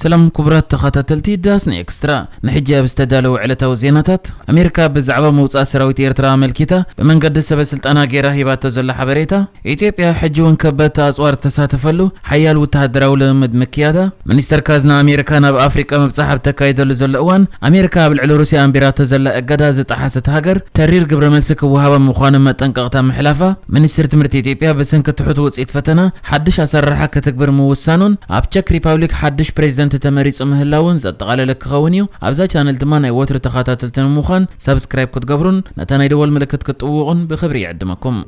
ሰላም ኩቡራት ተኻታተልቲ ዳስኒ ኤክስትራ ንሕጂ ኣብ ዝተዳለወ ዕለታዊ ዜናታት ኣሜሪካ ብዛዕባ ምውጻእ ሰራዊት ኤርትራ ኣመልኪታ ብመንገዲ ሰበ ስልጣና ጌራ ሂባቶ ዘላ ሓበሬታ ኢትዮጵያ ሕጂ ውን ከበድቲ ኣጽዋር ዝተሳተፈሉ ሓያል ውተሃደራዊ ልምምድ ምክያዳ ሚኒስተር ካዝና ኣሜሪካ ናብ ኣፍሪቃ ምብጻሕ ኣብ ተካይደሉ ዘሎ እዋን ኣሜሪካ ኣብ ልዕሊ ሩስያ ኣንቢራቶ ዘላ እገዳ ዝጠሓሰት ሃገር ተሪር ግብረመልሲ ክወሃባ ምዃኑ መጠንቀቕታ ምሕላፋ ሚኒስትሪ ትምህርቲ ኢትዮጵያ ብሰንኪ ትሑት ውጽኢት ፈተና ሓድሽ ኣሰራርሓ ከተግብር ምውሳኑን ኣብ ቸክ ሪፓብሊክ ሓድሽ ፕሬዚደንት ተመሪፁ ምህላዉን ዘጠቓለለ ክኸውን እዩ። ኣብዛ ቻነል ድማ ናይ ወትሩ ተኻታተልቲ ንምዃን ሳብስክራይብ ክትገብሩን ነታ ናይ ደወል ምልክት ክትጥውቑን ብኽብሪ ይዕድመኩም።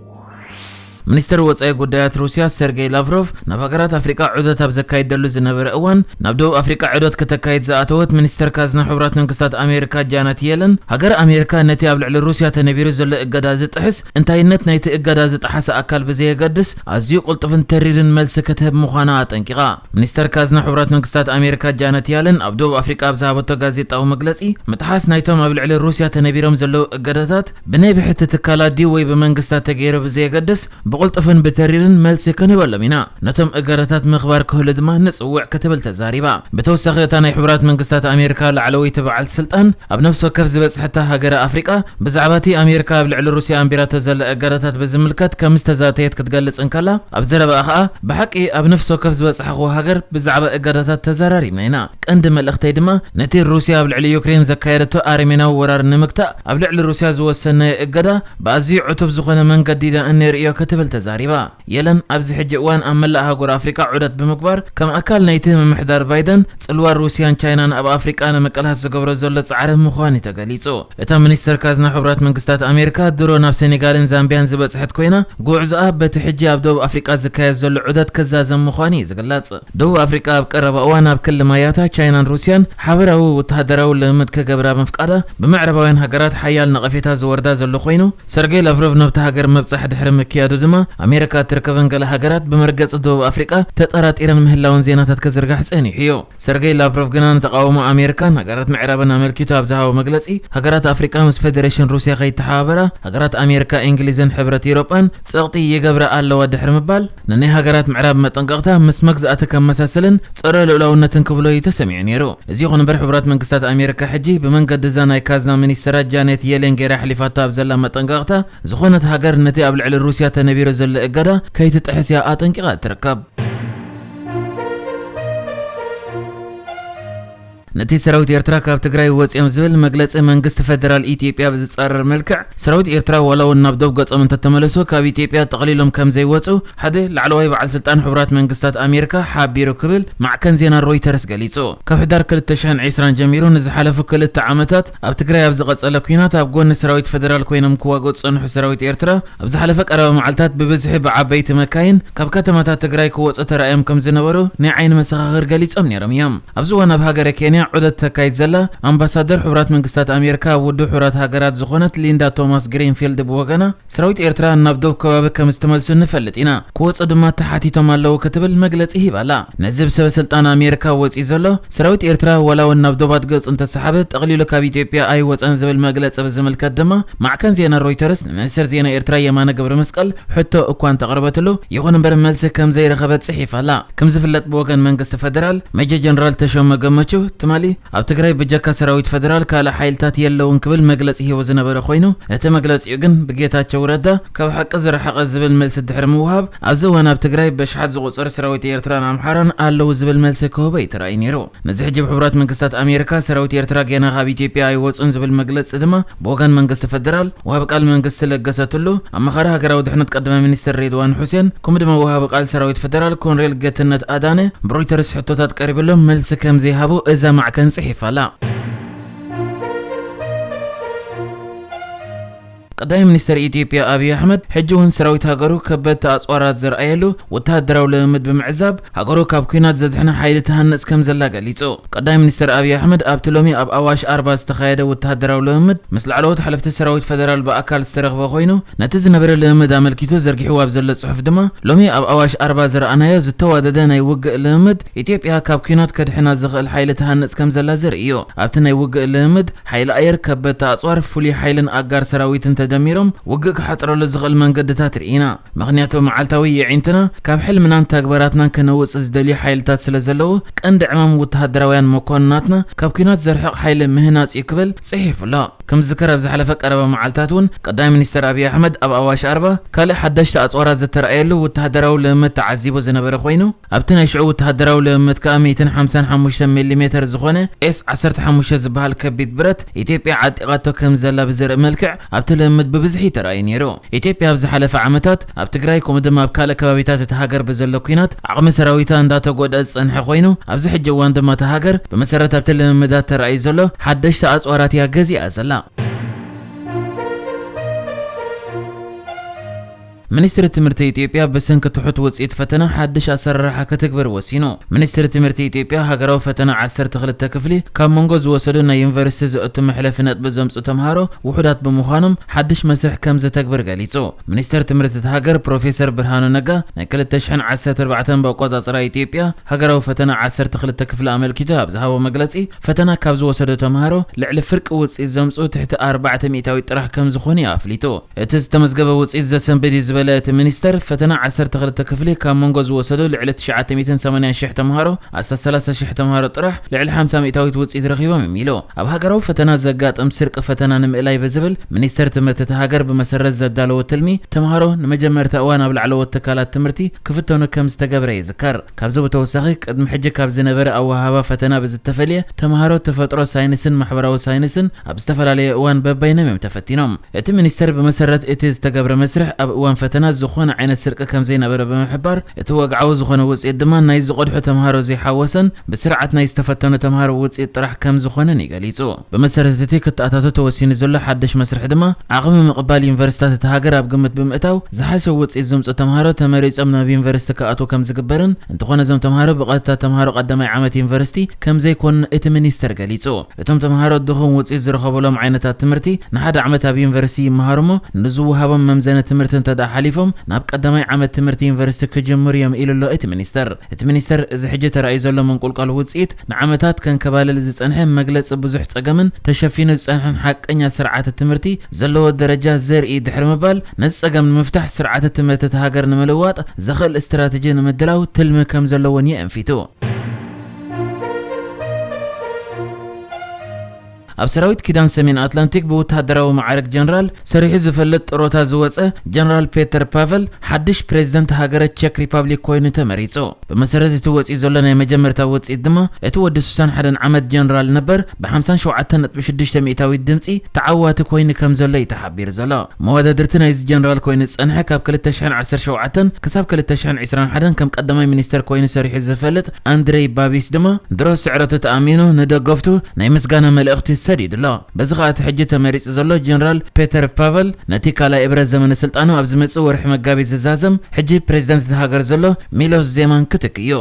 ሚኒስተር ወጻኢ ጉዳያት ሩስያ ሰርጌይ ላቭሮቭ ናብ ሃገራት ኣፍሪቃ ዑደት ኣብ ዘካይደሉ ዝነበረ እዋን ናብ ደቡብ ኣፍሪቃ ዑደት ክተካይድ ዝኣተወት ሚኒስተር ካዝና ሕቡራት መንግስታት ኣሜሪካ ጃነት የለን ሃገረ ኣሜሪካ ነቲ ኣብ ልዕሊ ሩስያ ተነቢሩ ዘሎ እገዳ ዝጥሕስ እንታይነት ናይቲ እገዳ ዝጠሓሰ ኣካል ብዘየገድስ ኣዝዩ ቅልጡፍን ተሪርን መልሲ ክትህብ ምዃና ኣጠንቂቓ። ሚኒስተር ካዝና ሕቡራት መንግስታት ኣሜሪካ ጃነት ያለን ኣብ ደቡብ ኣፍሪቃ ኣብ ዝሃበቶ ጋዜጣዊ መግለጺ፣ ምጥሓስ ናይቶም ኣብ ልዕሊ ሩስያ ተነቢሮም ዘለዉ እገዳታት ብናይ ብሕቲ ትካላት ድዩ ወይ ብመንግስታት ተገይሩ ብዘየገድስ ብቕልጡፍን ብተሪርን መልሲ ክንህበሎም ኢና፣ ነቶም እገዳታት ምኽባር ክህሉ ድማ ንጽውዕ ክትብል ተዛሪባ። ብተወሳኺ እታ ናይ ሕቡራት መንግስታት ኣሜሪካ ላዕለወይቲ በዓልቲ ስልጣን ኣብ ነፍሲ ወከፍ ዝበጽሐታ ሃገረ ኣፍሪቃ፣ ብዛዕባ እቲ ኣሜሪካ ኣብ ልዕሊ ሩስያ ኣንቢራቶ ዘላ እገዳታት ብዝምልከት ከም ዝተዛተየት ክትገልጽ እንከላ፣ ኣብ ዘረባኣ ከኣ ብሓቂ ኣብ ነፍሲ ወከፍ ዝበጻሕክዎ ሃገር ብዛዕባ እገዳታት ተዘራሪብና ኢና። ቀንዲ መልእኽተይ ድማ ነቲ ሩስያ ኣብ ልዕሊ ዩክሬን ዘካየደቶ ኣረሜናዊ ወራር ንምግታእ ኣብ ልዕሊ ሩስያ ዝወሰንናዮ እገዳ ብኣዝዩ ዕቱብ ዝኾነ መንገዲ ኢና እንርእዮ ክትብል ተዛሪባ። የለን ኣብዚ ሕጂ እዋን ኣብ መላእ ኣህጉር ኣፍሪቃ ዑደት ብምግባር ከም ኣካል ናይቲ ምምሕዳር ቫይደን ጽልዋ ሩስያን ቻይናን ኣብ ኣፍሪቃ ንምቅላስ ዝገብሮ ዘሎ ጻዕሪ ምዃኑ'ዩ ተገሊጹ። እታ ሚኒስተር ካዝና ሕቡራት መንግስታት ኣሜሪካ ድሮ ናብ ሰኔጋልን ዛምብያን ዝበጽሐት ኮይና ጉዕዞኣ በቲ ሕጂ ኣብ ደቡብ ኣፍሪቃ ዝካየድ ዘሎ ዑደት ክዛዘም ምዃኑ'ዩ ዝግለጽ። ደቡብ ኣፍሪቃ ኣብ ቀረባ እዋን ኣብ ክሊ ማያታ ቻይናን ሩስያን ሓበራዊ ወተሃደራዊ ልምምድ ክገብራ ምፍቃዳ ብምዕራባውያን ሃገራት ሓያል ነቐፌታ ዝወርዳ ዘሎ ኮይኑ፣ ሰርገይ ላቭሮቭ ናብታ ሃገር ምብጻሕ ድሕሪ ምክያዱ ድማ፣ ኣሜሪካ እትርከበን ገለ ሃገራት ብመርገጺ ደቡብ ኣፍሪቃ ተጠራጢረን ምህላወን ዜናታት ክዝርጋሕ ጸኒሑ'ዩ። ሰርገይ ላቭሮቭ ግና ንተቓውሞ ኣሜሪካን ሃገራት ምዕራብን ኣመልኪቱ ኣብ ዝሃቦ መግለጺ፣ ሃገራት ኣፍሪቃ ምስ ፈደረሽን ሩስያ ከይተሓባበራ፣ ሃገራት ኣሜሪካ፣ እንግሊዝን ሕብረት ኤውሮጳን ጸቕጢ ይገብራ ኣለዋ ድሕሪ ምባል፣ ንናይ ሃገራት ምዕራብ መጠንቀቕታ ምስ መግዛእቲ ከመሳስልን ጸረ ልኡላውነትን ክብሎ እዩ ተሰሚዑ ነይሩ። እዚ ይኹን እምበር ሕቡራት መንግስታት ኣሜሪካ ሕጂ ብመንገዲ እዛ ናይ ካዝና ሚኒስተራ ጃኔት የሌን ገይራ ኣሕሊፋቶ ኣብ ዘላ መጠንቀቕታ ዝኾነት ሃገር ነቲ ኣብ ልዕሊ ሩስያ ተነቢሩ ዘሎ እገዳ ከይትጥሕስ እያ ኣጠንቂቓ እትርከብ። ነቲ ሰራዊት ኤርትራ ካብ ትግራይ ወጺኦም ዝብል መግለጺ መንግስቲ ፈደራል ኢትዮጵያ ብዝጻረር መልክዕ፣ ሰራዊት ኤርትራ ዋላ'ውን ናብ ዶብ ገጾም እንተተመለሱ ካብ ኢትዮጵያ ጠቕሊሎም ከምዘይወጹ ሓደ ላዕለዋይ በዓል ስልጣን ሕቡራት መንግስታት ኣሜሪካ ሓቢሩ ክብል ማዕከን ዜና ሮይተርስ ገሊጹ። ካብ ሕዳር ክልተ ሽሕን ዕስራን ጀሚሩ ንዝሓለፉ ክልተ ዓመታት ኣብ ትግራይ ኣብ ዝቐጸለ ኲናት ኣብ ጎኒ ሰራዊት ፈደራል ኮይኖም ክዋግኡ ዝጸንሑ ሰራዊት ኤርትራ፣ ኣብ ዝሓለፈ ቀረባ መዓልታት ብብዝሒ ብዓበይቲ መካይን ካብ ከተማታት ትግራይ ክወጹ ተራእዮም ከም ዝነበሩ ናይ ዓይኒ መሰኻኽር ገሊጾም ነይሮም እዮም። ኣብዚ እዋን ኣብ ሃገረ ኬንያ ዑደት ተካይድ ዘላ ኣምባሳደር ሕቡራት መንግስታት ኣሜሪካ ኣብ ውድብ ሕቡራት ሃገራት ዝኾነት ሊንዳ ቶማስ ግሪንፊልድ ብወገና ሰራዊት ኤርትራ ናብ ዶብ ከባቢ ከም ዝተመልሱ ንፈልጥ ኢና፣ ክወጹ ድማ ተሓቲቶም ኣለዉ ክትብል መግለጺ ሂባ ኣላ። ነዚ ብሰበ ስልጣን ኣሜሪካ ወጺኡ ዘሎ ሰራዊት ኤርትራ ዋላ እውን ናብ ዶባት ገጹ እንተሰሓበ ጠቕሊሉ ካብ ኢትዮጵያ ኣይወጸን ዝብል መግለጺ ብዝምልከት ድማ ማዕከን ዜና ሮይተርስ ንሚኒስተር ዜና ኤርትራ የማነ ገብረመስቀል ሕቶ እኳ እንተቐረበትሉ ይኹን እምበር መልሲ ከም ዘይረኸበት ጽሒፋ ኣላ። ከም ዝፍለጥ ብወገን መንግስቲ ፈደራል ሜጀር ጀነራል ተሾመ ገመቹ ትማሊ ኣብ ትግራይ ብጀካ ሰራዊት ፈደራል ካልእ ሓይልታት የለውን ክብል መግለጺ ሂቡ ዝነበረ ኮይኑ እቲ መግለጺኡ ግን ብጌታቸው ረዳ ካብ ሓቂ ዝረሓቐ ዝብል መልሲ ድሕሪ ምውሃብ ኣብዚ እዋን ኣብ ትግራይ ብኣሽሓት ዝቑጸር ሰራዊት ኤርትራን ኣምሓራን ኣለዉ ዝብል መልሲ ክህቦ እዩ ተራእዩ ነይሩ። ነዚ ሕጂ ብሕቡራት መንግስታት ኣሜሪካ ሰራዊት ኤርትራ ጌና ካብ ኢትዮጵያ ኣይወጹን ዝብል መግለጺ ድማ ብወገን መንግስቲ ፈደራል ወሃቢ ቃል መንግስቲ ለገሰ ቱሉ፣ ኣማኻሪ ሃገራዊ ድሕነት ቀዳማይ ሚኒስተር ሬድዋን ሑሴን ከምኡ ድማ ወሃቢ ቃል ሰራዊት ፈደራል ኮንሬል ጌትነት ኣዳነ ብሮይተርስ ሕቶታት ቀሪብሎም መልሲ ከምዘይሃቡ እዛ ማዕከን ጽሒፋ ኣላ። ቀዳማይ ሚኒስተር ኢትዮጵያ ኣብዪ ኣሕመድ ሕጂ እውን ሰራዊት ሃገሩ ከበድቲ ኣጽዋራት ዘርኣየሉ ወተሃደራዊ ልምምድ ብምዕዛብ ሃገሩ ካብ ኲናት ዘድሕና ሓይሊ ትሃንጽ ከም ዘላ ገሊጹ። ቀዳማይ ሚኒስተር ኣብዪ ኣሕመድ ኣብቲ ሎሚ ኣብ ኣዋሽ ኣርባ ዝተኻየደ ወተሃደራዊ ልምምድ ምስ ላዕለዎት ሓለፍቲ ሰራዊት ፈደራል ብኣካል ዝተረኽበ ኮይኑ ነቲ ዝነበረ ልምምድ ኣመልኪቱ ዘርጊሕዎ ኣብ ዘሎ ጽሑፍ ድማ ሎሚ ኣብ ኣዋሽ ኣርባ ዝረኣናዮ ዝተዋደደ ናይ ውግእ ልምምድ ኢትዮጵያ ካብ ኲናት ከድሕና ዝኽእል ሓይሊ ትሃንጽ ከም ዘላ ዘርኢ እዩ። ኣብቲ ናይ ውግእ ልምምድ ሓይሊ ኣየር፣ ከበድቲ ኣጽዋር፣ ፍሉይ ሓይልን ኣጋር ሰራዊትን ተደሚሮም ውግእ ክሓጽረሉ ዝኽእል መንገድታት ርኢና። ምኽንያቱ መዓልታዊ የዒንትና ካብ ሕልምናን ተግባራትናን ከነውጽእ ዝደልዩ ሓይልታት ስለ ዘለዉ፣ ቀንዲ ዕማም ውተሃደራውያን መኮንናትና ካብ ኲናት ዘርሕቕ ሓይሊ ምህናጽ'ዩ ክብል ጽሒፉ ኣሎ። ከም ዝዝከር ኣብ ዝሓለፈ ቀረባ መዓልታት እውን ቀዳማይ ሚኒስተር ኣብዪ ኣሕመድ ኣብ ኣዋሽ ኣርባ ካልእ ሓዳሽቲ ኣጽዋራት ዝተራእየሉ ውተሃደራዊ ልምምድ ተዓዚቡ ዝነበረ ኮይኑ፣ ኣብቲ ናይ ሽዑ ወተሃደራዊ ልምምድ ከኣ ሚእትን ሓምሳን ሓሙሽተን ሚሊሜተር ዝኾነ ኤስ ዓሰርተ ሓሙሽተ ዝበሃል ከቢድ ብረት ኢትዮጵያ ዓጢቓቶ ከም ዘላ ብዘርኢ መልክዕ ኣብቲ ልምምድ ብብዝሒ እዩ ተራእዩ ነይሩ። ኢትዮጵያ ኣብ ዝሓለፈ ዓመታት ኣብ ትግራይ ከምኡ ድማ ኣብ ካልእ ከባቢታት እታ ሃገር ብዘሎ ኲናት ዓቕሚ ሰራዊታ እንዳተጎድኣ ዝጸንሐ ኮይኑ ኣብዚ ሕጂ እዋን ድማ እታ ሃገር ብመሰረት ኣብቲ ልምምዳት ተራእዩ ዘሎ ሓደሽቲ ኣጽዋራት እያ ገዚኣ ዘላ። ሚኒስትሪ ትምህርቲ ኢትዮጵያ ብሰንኪ ትሑት ውፅኢት ፈተና ሓድሽ ኣሰራርሓ ክትግብር ወሲኑ። ሚኒስትሪ ትምህርቲ ኢትዮጵያ ሃገራዊ ፈተና ዓሰርተ ክልተ ክፍሊ ካብ መንጎ ዝወሰዱ ናይ ዩኒቨርሲቲ ዘእቱ መሕለፊ ነጥቢ ዘምፅኡ ተምሃሮ ውሑዳት ብምዃኖም ሓድሽ መስርሕ ከምዘተግብር ገሊፁ። ሚኒስተር ትምህርቲ እታ ሃገር ፕሮፌሰር ብርሃኑ ነጋ ናይ ክልተ ሽሕን ዓሰርተ ኣርባዕተን ብኣቆፃፅራ ኢትዮጵያ ሃገራዊ ፈተና ዓሰርተ ክልተ ክፍሊ ኣመልኪቱ ኣብ ዝሃቦ መግለፂ ፈተና ካብ ዝወሰዱ ተምሃሮ ልዕሊ ፍርቂ ውፅኢት ዘምፅኡ ትሕቲ ኣርባዕተ ሚእታዊት ጥራሕ ከምዝኾኑ እዩ ኣፍሊጡ። እቲ ዝተመዝገበ ውፅኢት ዘሰንብድ እዩ ዝበለ እቲ ሚኒስተር፣ ፈተና ዓሰርተ ክልተ ክፍሊ ካብ መንጎ ዝወሰዱ ልዕሊ ትሽዓተ ሚእትን ሰማንያን ሽሕ ተምሃሮ ኣስታት ሰላሳ ሽሕ ተምሃሮ ጥራሕ ልዕሊ ሓምሳ ሚእታዊት ውፅኢት ረኺቦም እዮም ኢሉ። ኣብ ሃገራዊ ፈተና ዘጋጥም ስርቂ ፈተና ንምእላይ ብዝብል ሚኒስተር ትምህርቲ እታ ሃገር ብመሰረት ዘዳለዎ ትልሚ ተምሃሮ ንመጀመርታ እዋን ኣብ ላዕለዎት ትካላት ትምህርቲ ክፍተኑ ከምዝተገብረ ይዝከር። ካብዚ ብተወሳኺ ቅድሚ ሕጂ ካብ ዝነበረ ኣወሃህባ ፈተና ብዝተፈልየ ተምሃሮ ተፈጥሮ ሳይንስን ማሕበራዊ ሳይንስን ኣብ ዝተፈላለየ እዋን በበይኖም እዮም ተፈቲኖም። እቲ ሚኒስተር ብመሰረት እቲ ዝተገብረ መስርሕ ኣብ እዋን ፈተና ዝኾነ ዓይነት ስርቂ ከምዘይነበረ ብምሕባር እቲ ወግዓዊ ዝኾነ ውፅኢት ድማ ናይ ዝቐድሑ ተምሃሮ ዘይሓወሰን ብስርዓት ናይ ዝተፈተኑ ተምሃሮ ውፅኢት ጥራሕ ከምዝኾነን እዩ ገሊፁ። ብመሰረት እቲ ክተኣታቶ ተወሲኑ ዘሎ ሓድሽ መስርሕ ድማ፣ ዓቕሚ ምቕባል ዩኒቨርሲታት እታ ሃገር ኣብ ግምት ብምእታው፣ ዝሓሸ ውጽኢት ዘምጽኡ ተምሃሮ ተመሪጾም ናብ ዩኒቨርሲቲ ክኣትዉ ከም ዝግበርን፣ እንተኾነ እዞም ተምሃሮ ብቐጥታ ተምሃሮ ቀዳማይ ዓመት ዩኒቨርሲቲ ከም ዘይኮኑን እቲ ሚኒስተር ገሊጹ። እቶም ተምሃሮ ድኹም ውጽኢት ዝረኸቡሎም ዓይነታት ትምህርቲ ንሓደ ዓመት ኣብ ዩኒቨርሲቲ ይመሃሩ እሞ፣ ንዝወሃቦም መምዘኒ ትምህርቲ እንተድኣ ሓሊፎም ናብ ቀዳማይ ዓመት ትምህርቲ ዩኒቨርሲቲ ክጅምሩ እዮም ኢሉ'ሎ እቲ ሚኒስተር። እቲ ሚኒስተር፣ እዚ ሕጂ ተራእዩ ዘሎ ምንቁልቋል ውጽኢት፣ ንዓመታት ከንከባልል ዝጸንሐ መግለጺ ብዙሕ ጸገምን ተሸፊኑ ዝጸንሐን ሓቀኛ ስርዓተ ትምህርቲ ዘለዎ ደረጃ ዘርኢ ድሕሪ ምባል ነዚ ጸገም ንምፍታሕ ስርዓተ ትምህርቲ እታ ሃገር ንምልዋጥ ዘኽእል ስትራተጂ ንምድላው ትልሚ ከምዘለዎን የእንፊቱ። ኣብ ሰራዊት ኪዳን ሰሜን ኣትላንቲክ ብውታደራዊ መዓርግ ጀነራል ሰሪሑ ዝፈልጥ ጥሮታ ዝወጸ ጀነራል ፔተር ፓቨል ሓድሽ ፕሬዚደንት ሃገረ ቸክ ሪፓብሊክ ኮይኑ ተመሪጹ። ብመሰረት እቲ ወጺኡ ዘሎ ናይ መጀመርታ ውጽኢት ድማ እቲ ወዲ ስሳን ሓደን ዓመት ጀነራል ነበር ብ ሓምሳን ሸውዓተን ነጥቢ ሽዱሽተ ሚእታዊት ድምጺ ተዓዋቲ ኮይኑ ከምዘሎ እዩ ተሓቢሩ ዘሎ። መወዳድርቲ ናይዚ ጀነራል ኮይኑ ዝጸንሐ ካብ ክልተ ሽሕን ዓሰርተ ሸውዓተን ክሳብ ክልተ ሽሕን ዕስራን ሓደን ከም ቀዳማይ ሚኒስተር ኮይኑ ሰሪሑ ዝፈልጥ ኣንድረይ ባቢስ ድማ ድሮ ስዕረቱ ተኣሚኑ ንደገፍቱ ናይ ምስጋና መልእኽቲ ሰዲዱ ኣሎ። በዚ ከኣ እቲ ሕጂ ተመሪጹ ዘሎ ጀነራል ፔተር ፓቨል ነቲ ካልኣይ እብረ ዘመነ ስልጣኑ ኣብ ዝመጽእ ወርሒ መጋቢት ዝዛዘም ሕጂ ፕረዚደንት እታ ሃገር ዘሎ ሚሎስ ዜማን ክትክእ እዩ።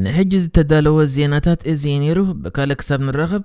ንሕጂ ዝተዳለወ ዜናታት እዚ እዩ ነይሩ። ብካልእ ክሳብ ንራኸብ